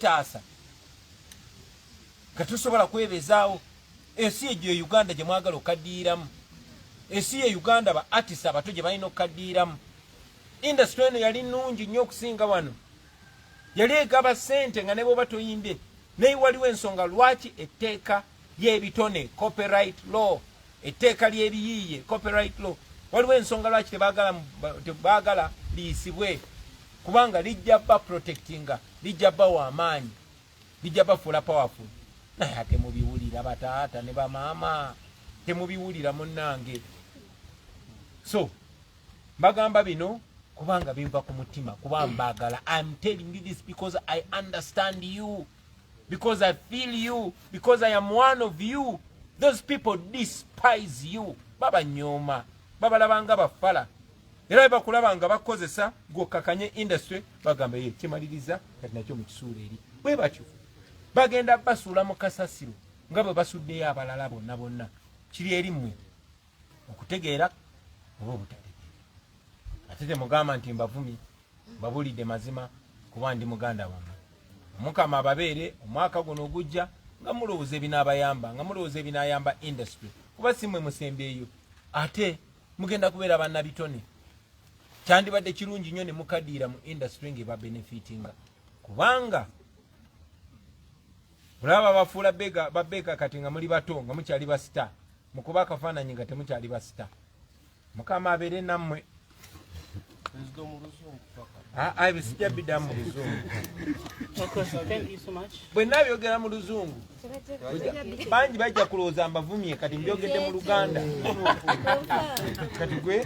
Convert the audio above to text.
taasa nga tusobola kwebezaawo ensi egyo e uganda gye mwagala okaddiiramu ensi ye uganda ba artist abato gye balina okukaddiiramu industry eno yali nnungi nnyo okusinga wano yali egaba ssente nga ne bwoba toyimbye naye waliwo ensonga lwaki etteeka y'ebitone copyright law etteeka ly'ebiyiiye copyright law waliwo ensonga lwaki tebaagala liyisibwe kubanga lijja ba protectinga lijja bawa amaanyi lijja bafuula powerful naye ate mubiwulira bataata ne bamaama temubiwulira munnange so mbagamba bino kubanga binva ku mutima kuba mbagala im telling you this because i understand you because I feel you because I am one of you those people despise you baba nyoma baba labanga bafala era bakulaba nga bakozesa gwokakanye industry bagamba ye kimaliriza kati nakyo mu kisuula eri bwe batyo bagenda basuula mu kasasiro nga bwe basuddeyo abalala bonna bonna kiri eri mmwe okutegeera oba obutategeera ate temugamba nti mbavumi mbabulidde mazima kuba ndi muganda wammwe omukama ababeere omwaka guno ogujja nga mulowooza ebinaabayamba nga mulowooza ebinaayamba industry kuba si mwe musembeeyo ate mugenda kubeera bannabitone kyandibadde kirungi nnyo ne mukadiira mu industry ng'eba benefitinga kubanga olaba babafuula bega babeka kati nga muli bato nga mukyali basita mukuba akafaananyi nga temukyali basita mukama abeere nammwe ah, ah, ebisijja bida mu luzungu bwenna byogera mu luzungu bangi bajja kulowooza mbavumye kati mbyogedde mu luganda kati gwe